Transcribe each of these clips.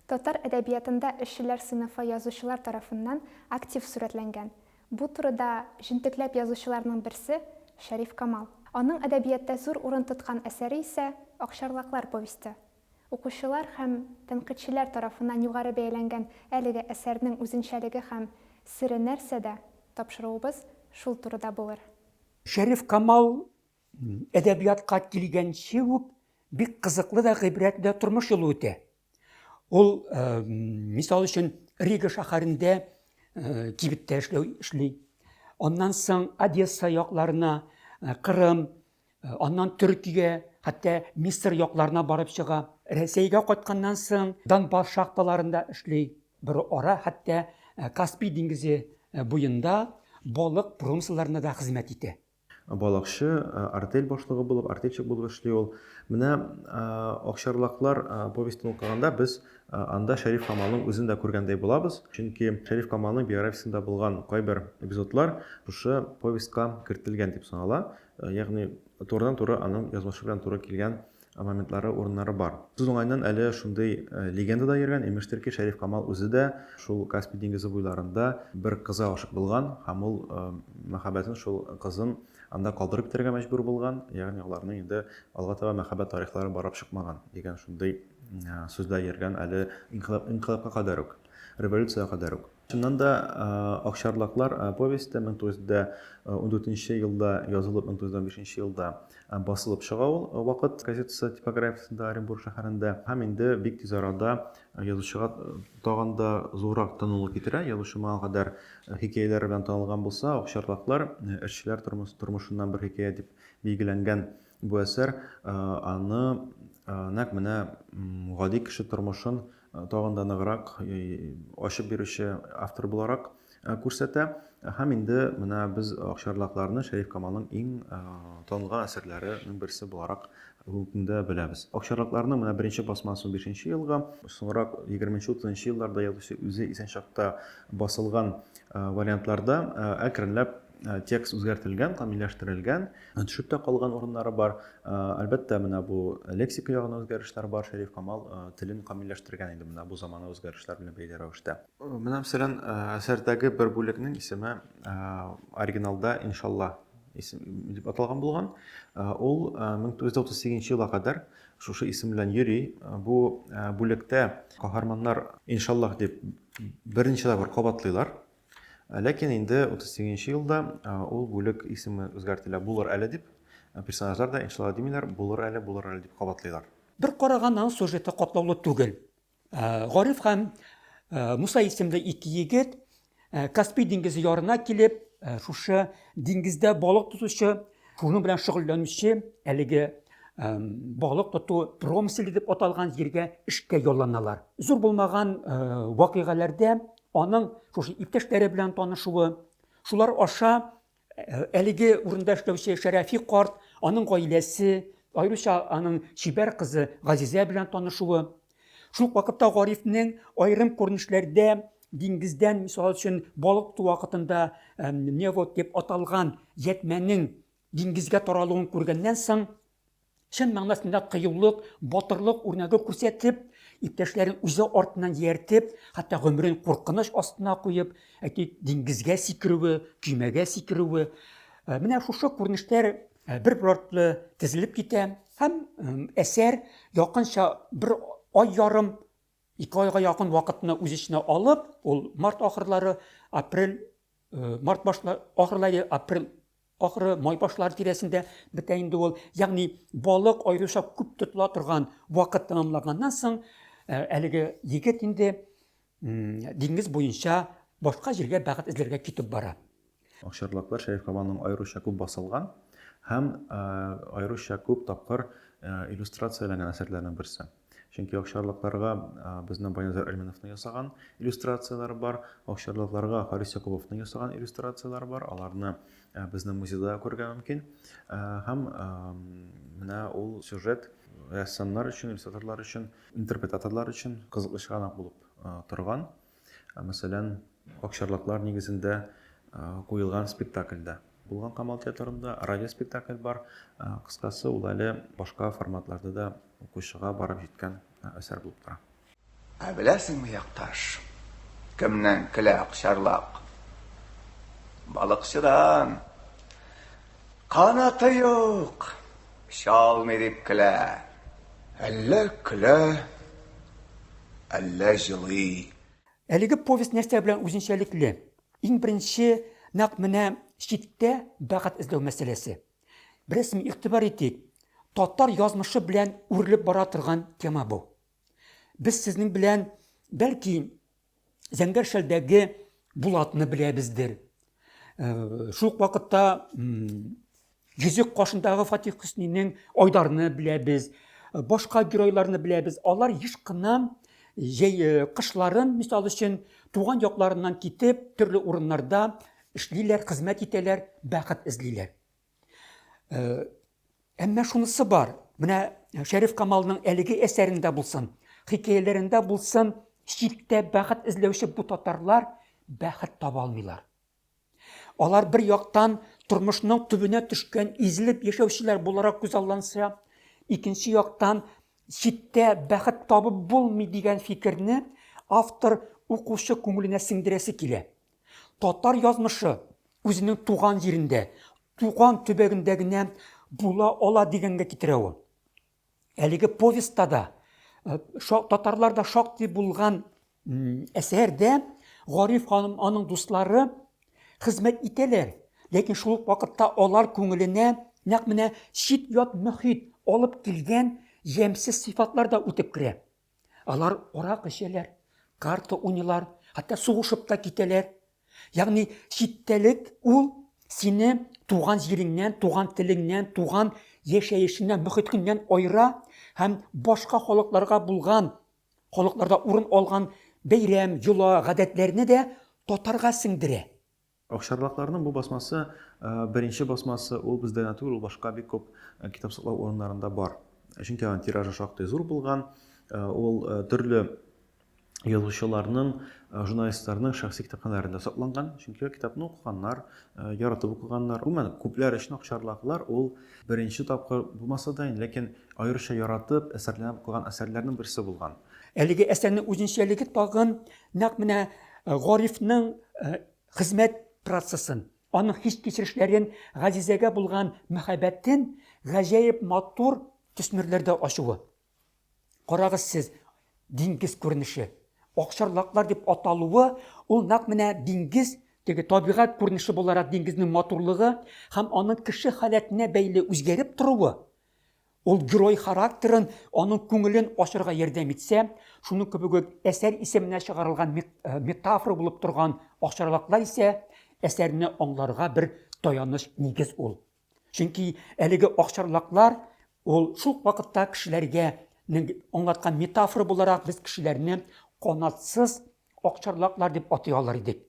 Татар әдәбиятында эшчеләр сыйныфы язучылар тарафыннан актив сурәтләнгән. Бу турыда җентекләп язучыларның берсе, Шәриф Камал. Аның әдәбиятта зур урын тоткан әсәре исә, Акчарлаклар повесте. Укучылар һәм тәнкыйтьчеләр тарафыннан югары бәяләнгән әлеге әсәрнең үзенчәлеге һәм сере нәрсәдә, тапшыруыбыз шул турыда булыр. Шәриф Камал әдәбиятка килгәнче үк бик кызыклы да, гыйбрәтле дә тормыш юлы үтә. Ул, э, мисал өчен, Рига шәһәрендә э, кибеттә эшләү эшли. Аннан соң Одесса якларына, э, Кырым, э, аннан Төркигә, хәтта Мисыр якларына барып чыга. Рәсәйгә кайтканнан соң Донбасс шахталарында эшли. Бер ара хәтта э, Каспий диңгезе э, буенда балык промысларында да хезмәт итә. Балыкчы, артель башлыгы булып, артельщик булып эшли ул. Менә Акчарлаклар повестен укыганда без анда Шәриф Камалның үзен дә күргәндәй булабыз. Чөнки Шәриф Камалның биографиясендә булган кайбер эпизодлар шушы повестька кертелгән дип санала. Ягъни турыдан-туры аның язмышы белән туры килгән моментлары, урыннары бар. Сүз уңаеннан, әле шундый легенда да йөргән, имештер ки, Шәриф Камал үзе дә шул Каспий диңгезе буйларында бер кызга гашыйк булган һәм ул мәхәббәтен, шул кызын анда калдырып китәргә мәҗбүр булган, ягъни аларның инде алга таба мәхәббәт тарихлары барып чыкмаган дигән шундый сүз дә йөргән әле инкыйлабка кадәр үк, революциягә кадәр үк. Чыннан да, Акчарлаклар повесте 1914 елда язылып, 1915 елда басылып чыга ул Вакыт газетасы типографиясендә Оренбург шәһәрендә һәм инде бик тиз арада язучыга тагын да зуррак танылу китерә. Язучы моңа кадәр хикәяләре белән танылган булса, Акчарлаклар, эшчеләр тормышыннан бер хикәя дип билгеләнгән бу әсәр аны нәкъ менә гади кеше тормышын тагын да ныграк ачып бирүче автор буларак күрсәтә. Һәм инде менә без Акчарлакларны Шәриф Камалның иң танылган әсәрләренең берсе буларак бүгенгә беләбез. Акчарлакларның менә беренче басмасы 15 елга, соңрак 20-30 елларда язучы үзе исән чакта басылган вариантларда әкренләп Э, текст үзгәртелгән камилләштерелгән э, төшеп тә калган урыннары бар э, әлбәттә менә бу лексика ягына үзгәрешләр бар шәриф камал телен камилләштергән инде менә бу замана үзгәрешләр белән бәйле рәвештә менә мәсәлән әсәрдәге бер бүлекнең исеме оригиналда иншалла исем дип аталган булган ул 1938 елга кадәр шушы исем белән йөри бу бүлектә каһарманнар иншаллах дип берничә тапкыр кабатлыйлар Ләкин инде 38 нче елда ул бүлек исеме үзгәртелә, булыр әле дип, персонажлар да иншалла димиләр, булыр әле, булыр әле дип кабатлыйлар. Бер караганнан сюжеты катлаулы түгел. Гариф һәм Муса исемле ике егет Каспий диңгезе ярына килеп, шушы диңгездә балык тотучы, шуның белән шөгыльләнүче әлеге балык тоту промыселе дип аталган җиргә эшкә ялланалар. Зур булмаган вакыйгаләрдә Аның шушы иптәшләре белән танышуы, шулар аша э, әлеге урында эшләүче Шәрәфи карт, аның гаиләсе, аеруча аның чибәр кызы Газизә белән танышуы, шул вакытта Гарифнең аерым күренешләрдә диңгездән, мисал өчен, балык ту вакытында невод дип аталган ятьмәнең Диңгезгә таралуын күргәннән соң, чын мәгънәсендә кыюлык, батырлык үрнәге күрсәтеп, иптәшләрен үзе артыннан ияртеп, хәтта гомерен куркыныч астына куеп, әйтик, диңгезгә сикерүе, көймәгә сикерүе, менә шушы күренешләр бер-бер артлы тезелеп китә һәм әсәр якынча бер ай ярым Ике айга якын вакытны үз эченә алып, ул март ахырлары, апрель, март башлар, ахырлары, апрель ахыры, май башлары тирәсендә бетә инде ул. Ягъни балык аеруча күп тотыла торган вакыт тәмамлаганнан соң, әлеге егет инде диңгез буенча башка җиргә бәхет эзләргә китеп бара. Акчарлаклар Шәриф Камалның аеруча күп басылган һәм аеруча күп тапкыр иллюстрацияләнгән әсәрләренең берсе. Чөнки акчарлакларга безнең Баянзар Әлмәновның ясаган иллюстрацияләре бар, акчарлакларга Харис Якубовның ясаган иллюстрацияләре бар, аларны безнең музейда күрергә мөмкин. Һәм менә ул сюжет рәссамнар өчен, иллюстраторлар өчен, интерпретаторлар өчен кызыклы чыганак булып торган. Мәсәлән, акчарлаклар нигезендә куелган спектакльдә. Булган Камал театрында радиоспектакль бар. Кыскасы, ул әле башка форматларда да укучыга барып җиткән әсәр булып тора. Ә беләсеңме, якташ, кемнән көлә акчарлак? Балыкчыдан! Канаты юк, чалмый дип көлә. Әллә көлә, әллә җылый. Әлеге повесть нәрсә белән үзенчәлекле? Иң беренче, нәкъ менә читтә бәхет эзләү мәсьәләсе. Бераз игътибар итик, татар язмышы белән үрелеп бара торган тема бу. Без сезнең белән, бәлки, Зәңгәр шәлдәге Булатны беләбездер. Э, шул ук вакытта Йөзек кашындагы Фатих Хөснинең Айдарны беләбез. Э, башка геройларны беләбез. Алар еш кына җәй э, кышларын, мисал өчен, туган якларыннан китеп, төрле урыннарда эшлиләр, хезмәт итәләр, бәхет эзлиләр. Әмма шунысы бар, менә Шәриф Камалның әлеге әсәрендә булсын, хикәяләрендә булсын, читтә бәхет эзләүче бу татарлар бәхет таба алмыйлар. Алар бер яктан тормышның төбенә төшкән, изелеп яшәүчеләр буларак күз алланса, икенче яктан читтә бәхет табып булмый дигән фикерне автор укучы күңеленә сеңдерәсе килә. Татар язмышы үзенең туган җирендә, туган төбәгендә генә була ала дигәнгә китерә ул. Әлеге повестьта да, э, татарларда шактый булган әсәрдә Гариф ханым аның дуслары хезмәт итәләр, ләкин шул ук вакытта алар күңеленә нәкъ менә чит-ят мөхит алып килгән ямьсез сыйфатлар да үтеп керә. Алар арак эчәләр, карта уйныйлар, хәтта сугышып та китәләр. Ягъни читтәлек ул сине туган җиреңнән, туган телеңнән, туган яшәешеннән, мөхиткеннән айыра һәм башка халыкларга булган, халыкларда урын алган бәйрәм, йола, гадәтләрне дә татарга сеңдерә. Акчарлакларның бу басмасы беренче басмасы, ул бездә генә түгел, ул башка бик күп китап саклау урыннарында бар. Чөнки аның тиражы шактый зур булган, ул төрле язучыларның, журналистларның шәхси китапханәләрендә сакланган, чөнки китапны укыганнар, яратып укыганнар. Гомумән, күпләр өчен акчарлаклар ул беренче тапкыр булмаса да, ләкин аеруча яратып, әсәрләнеп укыган әсәрләрнең берсе булган. Әлеге әсәрнең үзенчәлеге тагын Нәкъ менә э, Горифның э, хезмәт процессын, аның хис-кичерешләрен, Газизәгә булган мәхәббәтен гаҗәеп матур төсмерләрдә ачуы. Карагыз сез, диңгез күренеше. Акчарлаклар дип аталуы, ул нәкъ менә диңгез теге табигать күренеше буларак диңгезнең матурлыгы һәм аның кеше халәтенә бәйле үзгәреп торуы Ул герой характерын, аның күңелен ачырга ярдәм итсә, шуның кебек үк әсәр исеменә чыгарылган метафора булып торган ашарлаклар исә әсәрне аңларга бер таяныч нигез ул. Чөнки әлеге акчарлаклар ул шул вакытта кешеләргә аңлаткан метафора буларак без кешеләрне канатсыз акчарлаклар дип атый алар идек.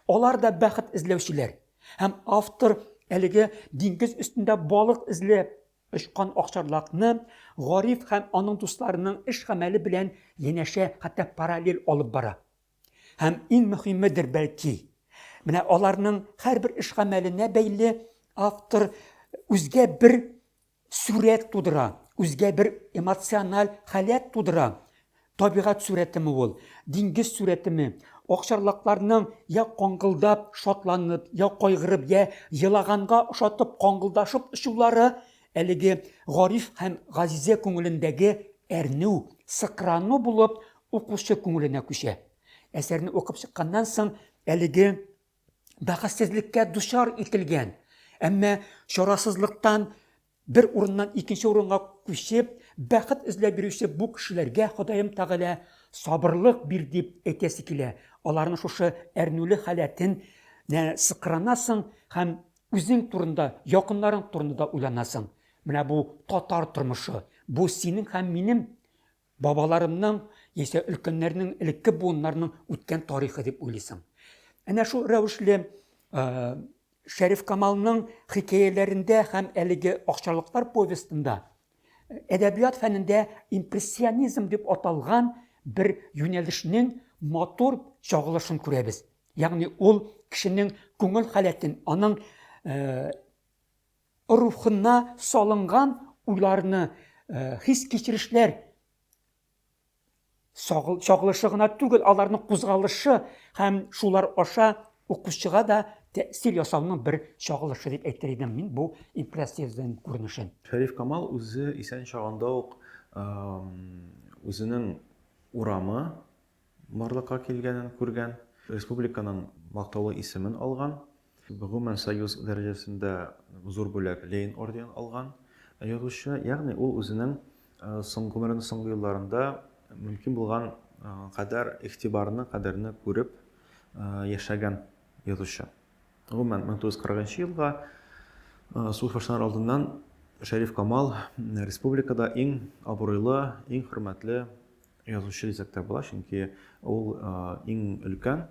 Алар да бәхет эзләүчеләр. Һәм автор әлеге диңгез өстендә балык эзләп Очкан акчарлакны Гариф һәм аның дусларының эш-гамәле белән янәшә, хәтта параллель алып бара. Һәм иң мөһимедер, бәлки, менә аларның һәрбер эш-гамәленә бәйле автор үзгә бер сурәт тудыра, үзгә бер эмоциональ халәт тудыра, Табигать сурәтеме ул, диңгез сурәтеме? Акчарлакларның йә каңгылдап, шатланып, йә кайгырып, йә елаганга ошатып каңгылдашып очулары әлеге Гариф һәм Газизә күңелендәге әрнү, сыкрану булып укучы күңеленә күчә. Әсәрне укып чыкканнан соң әлеге бәхетсезлеккә дучар ителгән, әмма чарасызлыктан Бер урыннан икенче урынга күчеп, бәхет эзләп йөрүче бу кешеләргә Ходаем Тәгалә сабырлык бир дип әйтәсе килә. Аларның шушы әрнүле халәтен нә сыкранасың һәм үзең турында, якыннарың турында да уйланасың. Менә бу татар тормышы, бу синең һәм минем Бабаларымның яисә өлкәннәрнең, элекке буыннарның үткән тарихы дип уйлыйсың. Әнә шул рәвешле Шәриф Камалның хикәяләрендә һәм әлеге акчалыклар повестында э, әдәбият фәнендә импрессионизм дип аталган бер юнәлешнең матур чагылышын күрәбез. Ягъни ул кешенең күңел халәтен, аның э, рухына салынган уйларны, хис-кичерешләр чагылышы гына түгел, аларның кузгалышы һәм шулар аша укучыга да тәэсир ясауның бер чагылышы дип әйтер идем мин бу импрессиязен күренешен. Шәриф Камал үзе исән чагында ук үзенең урамы, барлыкка килгәнен күргән, республиканың мактаулы исемен алган, гомумән Союз дәрәҗәсендә зур бүләк, Ленин орденын алган язучы. Ягъни ул үзенең соң гомеренең соңгы елларында мөмкин булган кадәр игътибарны, кадерне күреп яшәгән язучы. Гомумән, 1940 елга сугыш башланыр алдыннан Шәриф Камал республикада иң абруйлы, иң хөрмәтле Язучы Ризак та була, чөнки ул иң өлкән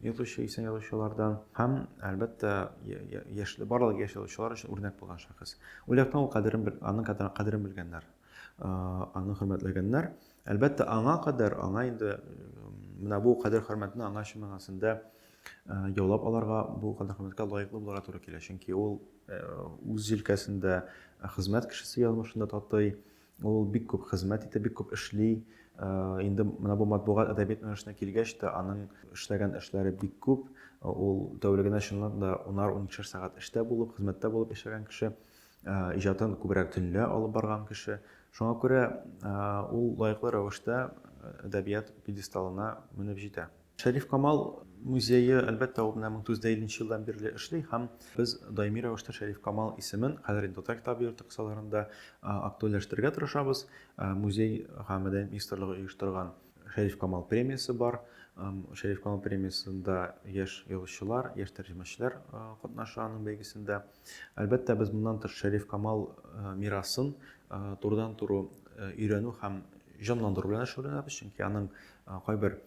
язучы исә язучылардан һәм, әлбәттә, яшьле барлык яшь язучылар өчен үрнәк булган шәхес. Ул яктан ул кадерен, аның кадерен белгәннәр, аны хөрмәтләгәннәр. Әлбәттә, аңа кадәр, аңа инде менә бу кадер хөрмәтне аңа чын мәгънәсендә яулап аларга, бу кадер хөрмәткә лаеклы булырга туры килә, чөнки ул үз җилкәсендә хезмәт кешесе язмышында татый Ул бик күп хезмәт итә, бик күп эшли. Инде менә бу матбугат әдәбият юнәлешенә килгәч тә, аның эшләгән эшләре бик күп. Ул тәүлегенә чынлап да унар-уникешәр сәгать эштә булып, хезмәттә булып яшәгән кеше, иҗатын күбрәк төнлә алып барган кеше. Шуңа күрә ул лаеклы рәвештә әдәбият пьедесталына менеп җитә. Шәриф Камал музее, әлбәттә, ул менә 1950 елдан бирле эшли һәм без даими рәвештә Шәриф Камал исемен хәзер инде Татар китабы йорты кысаларында актуальләштерергә тырышабыз. Музей һәм мәдәният министрлыгы оештырган Шәриф Камал премиясе бар. Шәриф Камал премиясендә яшь язучылар, яшь тәрҗемәчеләр катнаша аның бәйгесендә. Әлбәттә, без моннан тыш Шәриф Камал мирасын турыдан-туры өйрәнү һәм җанландыру белән шөгыльләнәбез, чөнки аның кайбер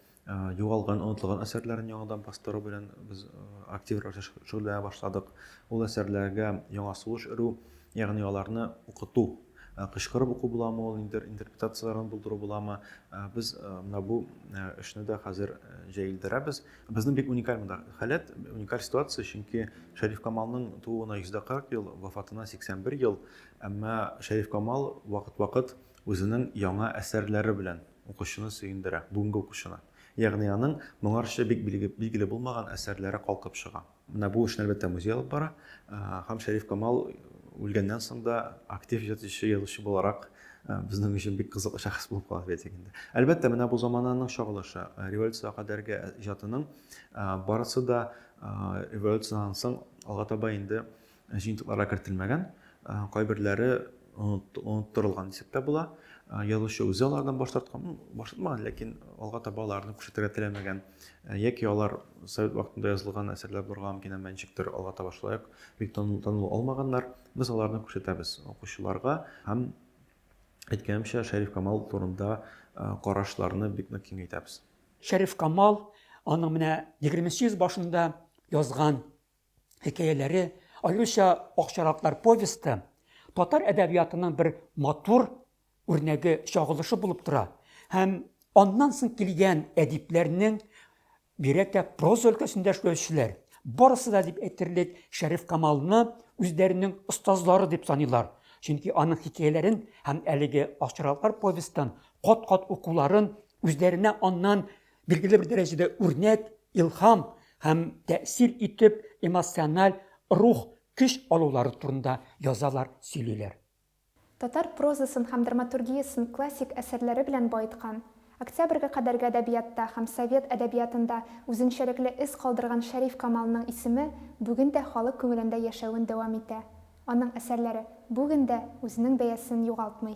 югалган, онытылган әсәрләрен яңадан бастыру белән без актив рәвештә шөгыльләнә башладык. Ул әсәрләргә яңа сулыш өрү, ягъни аларны укыту, кычкырып уку буламы ул, ниндидер интерпретацияләрен булдыру буламы, без менә бу эшне дә хәзер җәелдерәбез. Безнең бик уникаль монда халәт, уникаль ситуация, чөнки Шәриф Камалның тууына 140 ел, вафатына 81 ел, әмма Шәриф Камал вакыт-вакыт үзенең яңа әсәрләре белән Укучыны сөендерә, бүгенге укучыны. Ягъни аның моңарчы бик билгеле булмаган әсәрләре калкып чыга. Менә бу эшне, әлбәттә, музей алып бара. Һәм Шәриф Камал үлгәннән соң да актив иҗатчы, язучы буларак безнең өчен бик кызыклы шәхес булып кала бит инде. Әлбәттә, менә бу замананың чагылышы. Революциягә кадәрге иҗатының барысы да революциядән соң алга таба инде Җыентыкларга кертелмәгән, кайберләре оныттырылган дисәк тә була. Язучы үзе алардан баш тарткан, ну, баш тартмаган, ләкин алга таба аларны күрсәтергә теләмәгән. Яки алар совет вакытында язылган әсәрләр булырга мөмкин, әмма ничектер алга таба шулай ук бик танылу алмаганнар. Без аларны күрсәтәбез укучыларга һәм, әйткәнемчә, Шәриф Камал турында карашларны бик нык киңәйтәбез. Шәриф Камал, аның менә егерменче йөз башында язган хикәяләре, аеруча Акчараклар повесты татар әдәбиятының бер матур үрнәге чагылышы булып тора һәм аннан соң килгән әдипләрнең бигрәк тә проза өлкәсендә эшләүчеләр барысы да дип әйтерлек Шәриф Камалны үзләренең остазлары дип саныйлар. Чөнки аның хикәяләрен һәм әлеге Акчараклар повестын кат-кат укуларын үзләренә аннан Билгеле бер дәрәҗәдә үрнәк, илһам һәм тәэсир итеп эмоциональ, рух, көч алулары турында язалар, сөйлиләр. Татар прозасын һәм драматургиясен классик әсәрләре белән баеткан, Октябрьгә кадәрге әдәбиятта һәм совет әдәбиятында үзенчәлекле эз калдырган Шәриф Камалның исеме бүген дә халык күңелендә яшәвен дәвам итә, аның әсәрләре бүген дә үзенең бәясен югалтмый.